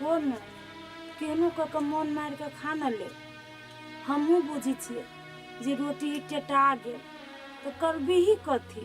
हो न केहनो कऽ कऽ मोन मारि कऽ खा न ले हमहूँ बुझै छियै जे रोटी टेटा गेल तऽ करबिही कथी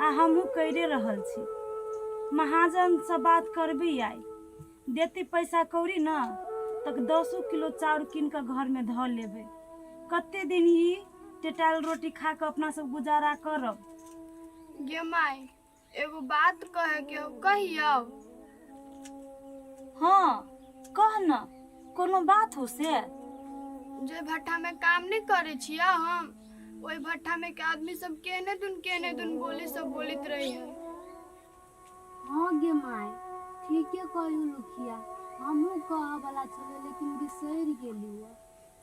आ हमहूँ करिए रहल छी महाजनसँ बात करबी आइ देती पैसा कौड़ी ने तऽ दसो किलो चाउर कीन कऽ घरमे धऽ लेबै कते दिन ई टेटायल रोटी खा कऽ अपना सब गुजारा करब गे माय एगो बात कहे के हो कहियो हाँ कह न कोनो बात हो से जे भट्ठा में काम नहीं करे छिया हम ओहि भट्ठा में के आदमी सब केने दुन केने दुन बोली सब बोलित रही है हाँ गे माय ठीके कहू लुखिया हमहूँ कहऽ वाला छलै लेकिन बिसरि गेलियै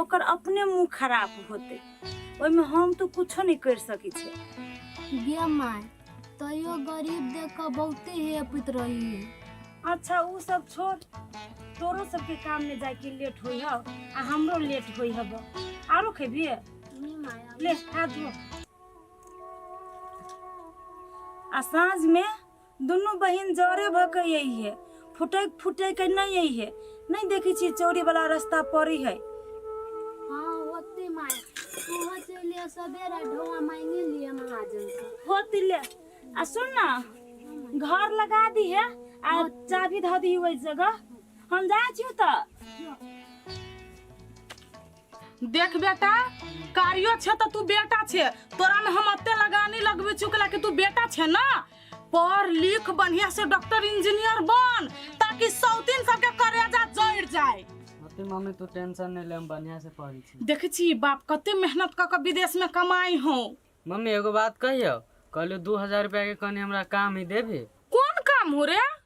ओकर अपने मुंह खराब होते ओहि में हम तो कुछो नहीं कर सकी छे गे माय तैयो गरीब देख के बहुते हेपित रही है अच्छा उ सब छोड़ तोरो सबके काम में जाके लेट होई हब आ हमरो लेट होई हब आरो खेबी नहीं माया ले हाथ धो आ साँझ में दुनू बहिन जरे भऽ के अइहे फुटैक फुटैक नहि अइहे नहि देखै छी चोरी वाला रास्ता पड़ी है हाँ होते माय तूहो चलिए सवेरा ढोआ मांगे लिए महाजन से होती ले आ सुन ना घर लगा दी है आ चाबी धऽ दी ओहि जगह हम जाइ छी तऽ देख बेटा कारियो छे तो तू बेटा छे तोरा में हम अत्ते लगानी लगबे चुकला कि तू बेटा छे ना पढ़ लिख बढ़िया से डॉक्टर इंजीनियर बन ताकि सौतीन सबके करेजा जड़ जाए अते मम्मी तू टेंशन नहीं ले हम बढ़िया से पढ़ी छी देखे छी बाप कते मेहनत क के विदेश में कमाई हो मम्मी एगो बात कहियो कहलू दू हजार रुपया के कनी हमरा काम ही देबी कौन काम हो रे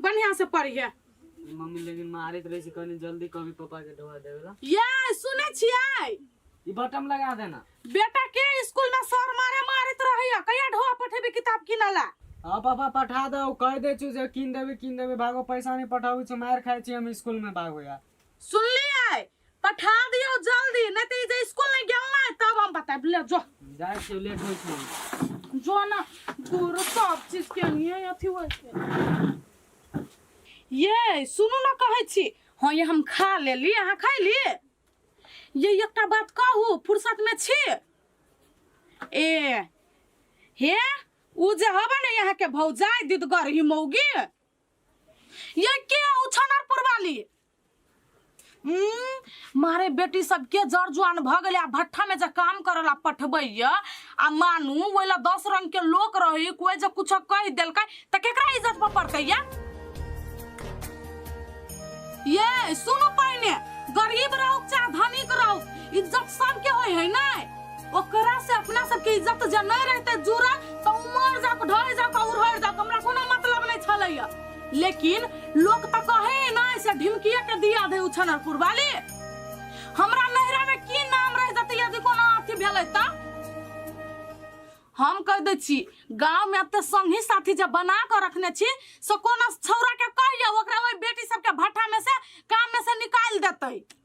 बढ़िया से पढ़िए ई मम्मी लेकिन मारैत रहै छै कनी जल्दी कभी पापा के ढोआ देबे ला ये सुनै छियै ई बटम लगा देना बेटा के स्कूल में सर मारे मारैत रहैया कहिया ढोआ पठेबी किताब किनऽ ला हाँ पापा पठा दो कह दे छु जे कीन देबे कीन देबे भागो पैसा नहीं पठाबू छु मार खाए छी हम स्कूल में भागो यार सुनलिए पठा दियो जल्दी नहीं तो जे स्कूल नहीं गेल ना तब हम बताए ले जो जाए से लेट होई छै जो ना दूर सब चीज के नहीं अथी होई छै ये सुनू ना कहै छी हां ये हम खा लेली अहाँ खैली ये एकटा बात कहू फुर्सत में छी ए हे उ जे हबे ने यहाँ के भौजाई दिदगर ही मौगी ये के हो छनरपुर वाली हम्म, मारे बेटी सब के जर जुआन भ गेले आ भट्ठा में जे काम करला पठबैया आ मानू ओइला दस रंग के लोक रही कोई जे कुछ कह देलकै त केकरा इज्जत पर पड़तै या ये सुनो पहिने गरीब रहो चाहे धनिक रहो इज्जत सबके होय है ना ओकरा से अपना सबके इज्जत जे नहि रहते जुड़ल तऽ उमर जाक ढल जाक उड़हर जाक हमरा कोनो मतलब नहि छलैया लेकिन लोक तऽ कहे नहि से ढिमकिया के दिया दे उछनरपुर वाली हमरा नैहरा में की नाम रह जते यदि कोनो अथी भेलै तऽ हम कह दै छी गांव में एते संगी साथी जे बना के रखने छी से कोनो छौरा के कहियो ओकरा ओहि बेटी सबके भट्ठा में से काम में से निकाल देतै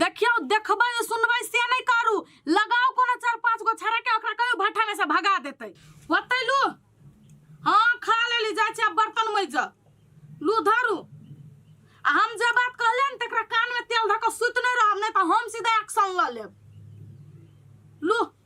देखियौ देखबै सुनबै से नहि करू लगाउ कोनो चारि पाँच गो छड़ा के ओकरा कहियो भट्ठा में से भगा देतै ओतै लू हँ खा लेली जाइ छै आब बर्तन मजि जा लू धरू आ हम जे बात कहलियै ने तकरा कान में तेल धऽ कऽ सुति नहि रहब नहि तऽ हम सीधा एक्शन लऽ लेब लू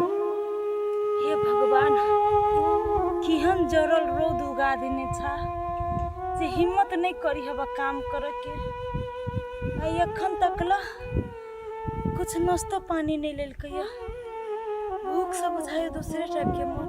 हे भगवान केहन जरल रौद उगा देने छा से हिम्मत नहीं करी हवा काम करे के आई अखन तक ला कुछ नाश्तो पानी नहीं लेलकै भूख से बुझाए दूसरे टाइप के मन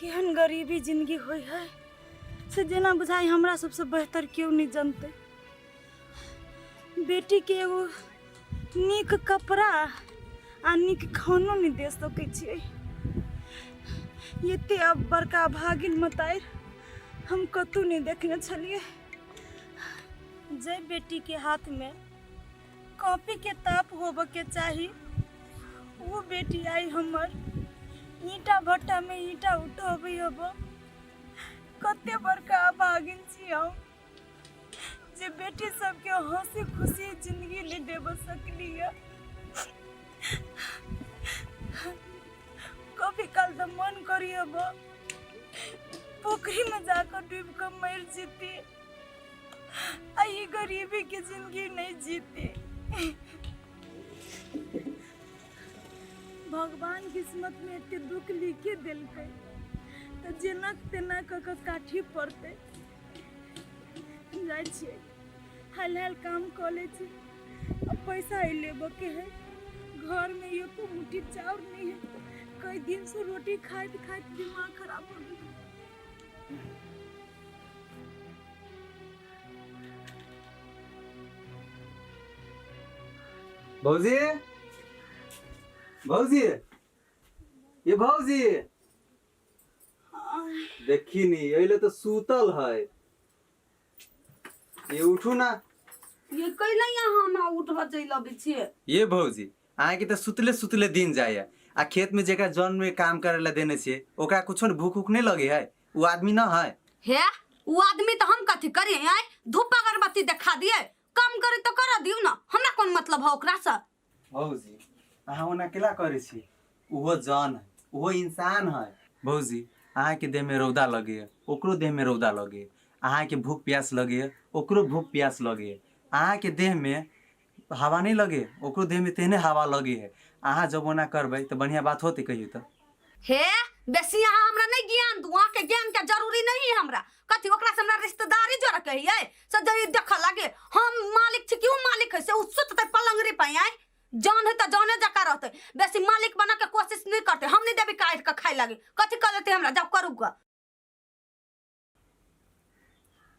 केहन गरीबी जिंदगी होइ है से जेना बुझाइ हमरा सबसँ बेहतर केओ नहि जनतै बेटीके एगो नीक कपड़ा आ नीक खानो नहि दे सकै छियै एते अब बड़का भागिन मतारि हम कतहु नहि देखने छलियै जाहि बेटीके हाथमे कॉपी के ताप होबऽ के चाही वो बेटी आई हमर ईटा भट्टा में ईटा उठोबी अब कते बड़का अभागिन छी हम जे बेटी सबके हंसी खुशी जिंदगी ले देब सकली है कभी काल तो मन करी अब पोखरी में जाकर डूब कर मर जीती आई गरीबी की जिंदगी नहीं जीती भगवान किस्मत में एते दुख लिखे दिलके तो जेना तेना क के काठी पड़ते जाइ छियै हाल हाल काम कऽ लै छी आ पैसा ही लेबऽ के है घर में एको मुट्ठी चाउर नहीं है कई दिन से रोटी खाइत खाइत दिमाग खराब हो गया भौजी भौजी ये भौजी देखी नी अइले तो सूतल है ये उठू ना ये कैला यहाँ हमरा उठबऽ चलि अबै छियै ये भौजी अहाँके तऽ सुतले सुतले दिन जाइए आ खेतमे जेकरा जन्ममे काम करै लए देने छियै ओकरा कुछो ने भूख उख नहि लगै है उ आदमी न है हे उ आदमी तो हम कथी करी हैं धूप अगरबत्ती देखा दिए कम करे तो कर दियो ना हमरा कौन मतलब है ओकरा से भौजी अहाँ ओना केला करै छी ओहो जन है ओहो इंसान है भौजी अहाँके देहमे रौदा लगैए ओकरो देहमे रौदा लगैए अहाँके भूख प्यास लगैए ओकरो भूख प्यास लगैए अहाँके देहमे हवा नहि लगे ओकरो देह में तेहने हवा लगे है अहा जब ओना करबे त बढ़िया बात होते कहियो त। हे बेसी अहा हमरा नहि ज्ञान दू अहा के ज्ञान के जरूरी नहि है हमरा कथी ओकरा से हमरा रिश्तेदारी जोड़े के है से जे ई देखे लगे हम मालिक छी कि उ मालिक है से उ सुतते पलंगरी पे आई जान है त जाने जका रहते बेसी मालिक बना के कोशिश नहीं करते हम नहीं देवी काट के खाए लगे कथी कर देते हमरा जब करू ग